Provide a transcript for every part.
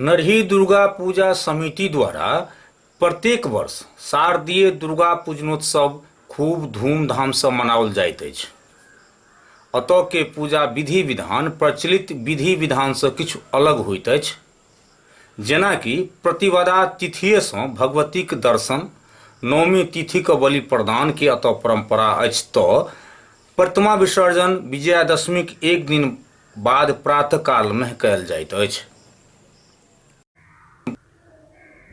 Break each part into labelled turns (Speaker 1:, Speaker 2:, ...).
Speaker 1: नरही दुर्गा पूजा समिति द्वारा प्रत्येक वर्ष शारदीय दुर्गा पूजनोत्सव खूब धूमधामसँ मनाओल जाइत अछि अतऽ के पूजा विधि विधान प्रचलित विधि विधानसँ किछु अलग होइत अछि जेनाकि प्रतिवदा तिथिएसँ भगवतीक दर्शन नौमी तिथिक बलि प्रदानके अतऽ परम्परा अछि तऽ प्रतिमा विसर्जन विजयादशमीक एक दिन बाद प्रातःकालमे कयल जाइत अछि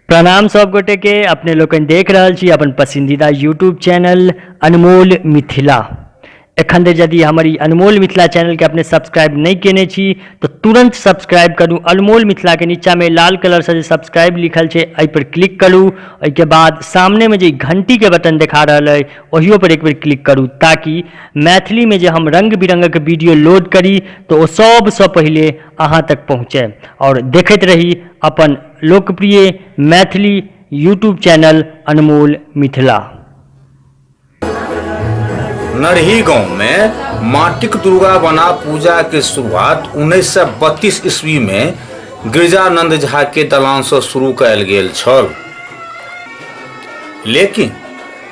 Speaker 1: प्रणाम सब गोटे के अपने लोकनि देख रहल छी अपन पसंदीदा यूट्यूब चैनल अनमोल मिथिला एखन धरि यदि हमर ई अनमोल मिथिला चैनल के अपने सब्सक्राइब नहि केने छी तऽ तुरंत सब्सक्राइब करू अनमोल मिथिला के नीचा में लाल कलर से जे सब्सक्राइब लिखल छै एहि पर क्लिक करू एहिके बाद सामने में जे ई घंटी के बटन देखा रहल अइ ओहियो पर एक बेर क्लिक करू ताकि मैथिली में जे हम रंग बिरंग के वीडियो लोड करी तो ओ सब से पहले अहाँ तक पहुँचे और देखते रही अपन लोकप्रिय मैथिली यूट्यूब चैनल अनमोल मिथिला नरही गांव में माटिक दुर्गा बना पूजा के शुरुआत 1932 ईस्वी में गिरजानंद झा के दलान से शुरू कयल गेल छल लेकिन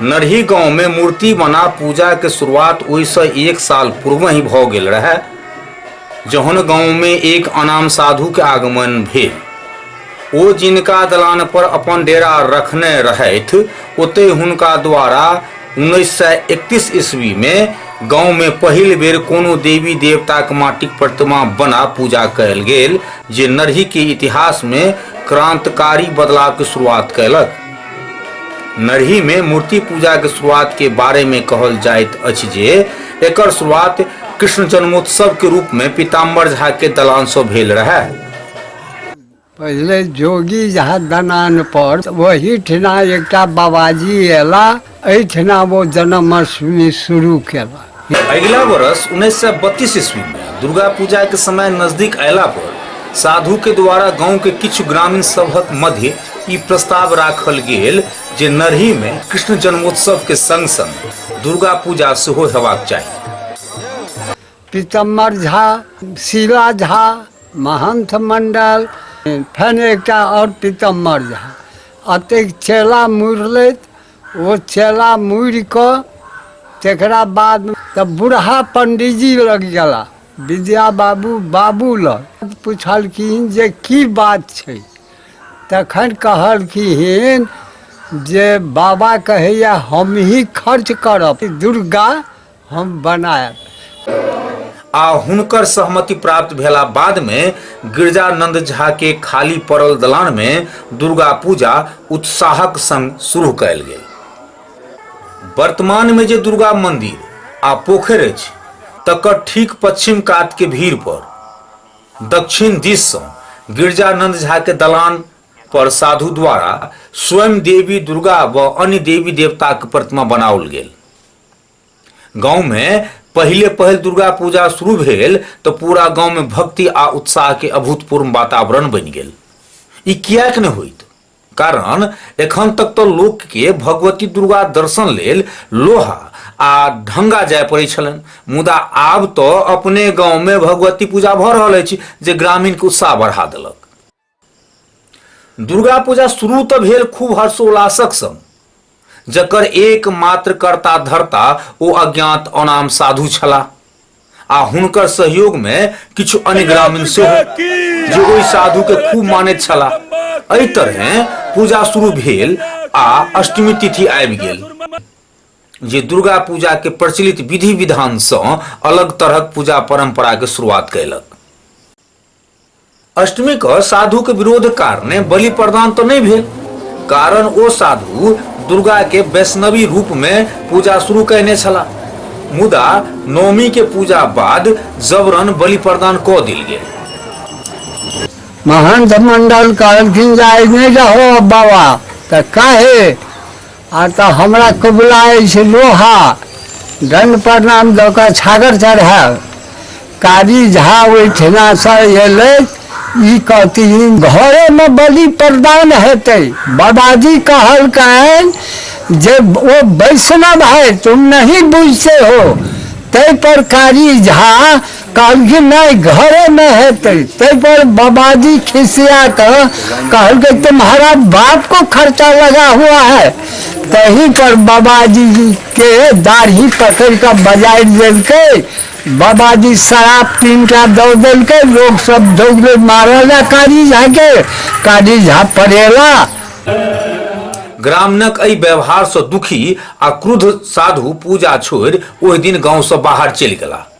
Speaker 1: नरही गाँव मे मूर्ति बना पूजा के शुरुआत ओहि सँ एक साल पूर्वहि भ गेल रहय जहन गाँव मे एक अनाम साधु के आगमन भेल। ओ जिनका दलान पर अपन डेरा रखने रहथि ओतय हुनका द्वारा उन्नैस सय एकतीस ईस्वी मे गाँव मे पहिल बेर कोनो देवी देवताक माटिक प्रतिमा बना पूजा कयल गेल जे नरही के इतिहास मे क्रांतकारी बदलाव के शुरुआत कयलक। नरही में मूर्ति पूजा के शुरुआत के बारे में कहल जाइत अछि जे एकर शुरुआत कृष्ण जन्मोत्सव के रूप में पीताम्बर झा के दलान से भेल रहे पहिले जोगी झा दनान पर वही ठिना एक बाबाजी एला एहिठिना ओ जन्माष्टमी शुरू केला अगिला वर्ष उन्नैस सए बत्तीस ईस्वीमे दुर्गा पूजाके समय नजदीक अयला पर साधुके द्वारा गाँवके किछु ग्रामीण सभक मध्य ई प्रस्ताव राखल गेल जे नरहीमे कृष्ण जन्मोत्सवके सङ्ग सङ्ग दुर्गा पूजा सेहो हेबाक चाही पितम्मर झा शिला झा महंथ मंडल फेन एकटा और पितम्मर झा अतेक चेला मुड़लैत ओ चेला मुड़ क तकरा बाद तऽ बूढ़ा पंडीजी लग गेला विद्या बाबू बाबू लग पुछलखिन जे की बात छै तखन कहलखिन जे बाबा कहैया हमही खर्च करब दुर्गा हम बनायब आ हुनकर सहमति प्राप्त भेला बाद में गिरजानंद झा के खाली पड़ल दलान में दुर्गा पूजा उत्साहक संग शुरू कयल गेल वर्तमान में जे दुर्गा मंदिर आ पोखर अछि तकर ठीक पश्चिम कात के भीड़ पर दक्षिण दिश से गिरजानंद झा के दलान पर साधु द्वारा स्वयं देवी दुर्गा व अन्य देवी देवता के प्रतिमा बनाओल गेल गाँवमे पहिले पहिल दुर्गा पूजा शुरू भेल तऽ पूरा गाँवमे भक्ति आ उत्साहके अभूतपूर्व वातावरण बनि गेल ई किएक नहि होइत कारण एखन तक तऽ लोकके भगवती दुर्गा दर्शन लेल लोहा आ ढंगा जाय पड़ैत छलनि मुदा आब तऽ अपने गाँवमे भगवती पूजा भऽ रहल अछि जे ग्रामीणके उत्साह बढ़ा देलक दुर्गा पूजा शुरू तऽ भेल खूब हर्षोल्लासक संग जकर एकमात्र कर्ता धर्ता ओ अज्ञात अनाम साधु छलाह आ हुनकर सहयोग मे किछु अन्य ग्रामीण सेहो जे ओहि साधु के खूब मानैत छलाह एहि तरहे पूजा शुरू भेल आ अष्टमी तिथि आबि गेल जे दुर्गा पूजा के प्रचलित विधि विधान सँ अलग तरहक पूजा परंपरा के शुरुआत कयलक अष्टमी क साधु के विरोध कारणे बलि प्रदान तो नहीं भेल कारण ओ साधु दुर्गा के वैष्णवी रूप में पूजा शुरू कहने छला मुदा नौमी के पूजा बाद जबरन बलि प्रदान क दिल गेल महंत मंडल कहलखिन जाय नहीं जाहो बाबा तो काहे आ तऽ हमरा कबुला अछि लोहा दण्ड प्रणाम दऽ कऽ छागर चढ़ायब कारी झा ओहिठिनासँ एलै ई कहथिन घरेमे बलि प्रदान हेतै बाबाजी कहलकनि जे ओ वैष्णव है तुम नहीं बुझते हो ताहिपर कारी झा कहलखिन नहि घरे नहि हेतै ताहि पर बाबाजी खिसिया कऽ कहलकै तुम्हारा बाप को खर्चा लगा हुआ है तही पर बाबाजी के दाढ़ी पकड़ि कऽ बजारि देलकै बाबाजी शराब पीन कऽ दऽ देलकै लोग सब दौड़े मारल आ कारी झा के कारी झा पड़ेला ग्रामणक एहि व्यवहारसँ दुखी आ क्रुद्ध साधु पूजा छोड़ि ओहि दिन गाँवसँ बाहर चलि गेलाह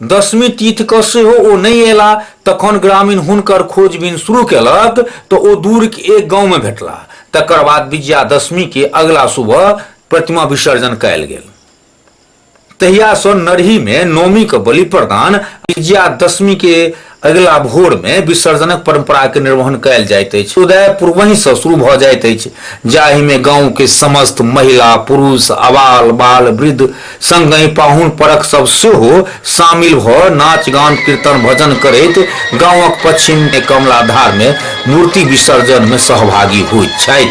Speaker 1: दसमी तिथि के सेहो ओ नहीं एला तखन ग्रामीण हुनकर खोजबीन शुरू केलक तो ओ दूर के एक गांव में भेटला तकर बाद विजयादशमी के अगला सुबह प्रतिमा विसर्जन कयल गेल तहियासँ नरहीमे नौमीक बलि प्रदान विजयादशमी के अगिला भोर में विसर्जनक परंपरा के निर्वहन कयल जाइत अछि उदय पूर्वहि से शुरू भऽ जाइत अछि जाहि में गांव के समस्त महिला पुरुष अबाल बाल वृद्ध संगहि पाहुन परक सब सेहो शामिल भऽ नाच गान कीर्तन भजन करैत गांवक पश्चिम में कमलाधार में मूर्ति विसर्जन में सहभागी होइत छथि